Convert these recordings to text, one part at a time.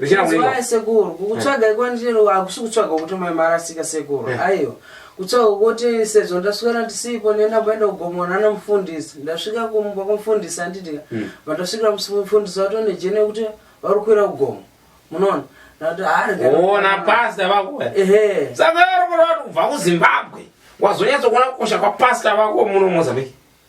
Richaramba. sekuru kukutsvaga iko ndiro akusi kutsvaga kuti mai marasika sekuru Eh. aiwa kutsvaga kuti sezvo ndaswera ndisipo nenda mboenda kugomona namufundisi ndasvika kumba kumufundisi anditika Mm. vandasvikira mufundisi vatone jeni yekuti vari kukwira kugomo munoona ndati Ona pastor vako. eh. ehe Saka uri kureva kuti kubva kuZimbabwe wazonyatsokuona kukosha kwapastor vako muno Mozambique.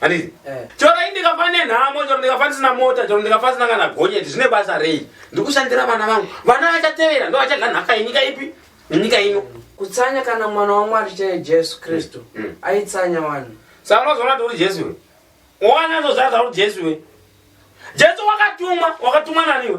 Handizi. Eh. Chero ndikafa nenhamo, chero ndikafa ndisina mota, chero ndikafa ndisina kana gonyeti, zvine basa rei? Ndikushandira vana vangu. Vana vachatevera, ndo vachadya nhaka yenyika ipi? Yenyika ino. Kutsanya kana mwana waMwari chaiye Jesu Kristu mm. mm. aitsanya vanhu. Saka unozoona kuti uri Jesu iwe. Wana zozvaza uri Jesu iwe. Jesu wakatumwa, wakatumwa nani iwe?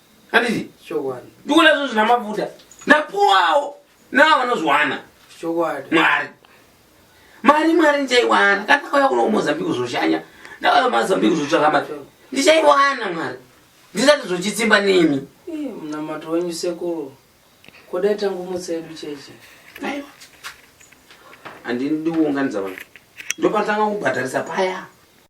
handiti chokwadi ndikuona zvinhu zvina mafuta ndapuwawo navo vanozviwana chokwadi mwari mari mwari ndichaiwana kana ndakauya kuno kumozambique zvoshanya ndakauya kumazambique zvotsvaka mari ndichaiwana mwari ndisati zvochitsimba nemi Ii, munamato wenyu sekuru kodai tangomutsa yedu cheche aiwa handidi kuunganidza vanhu ndopatanga kubhadharisa paya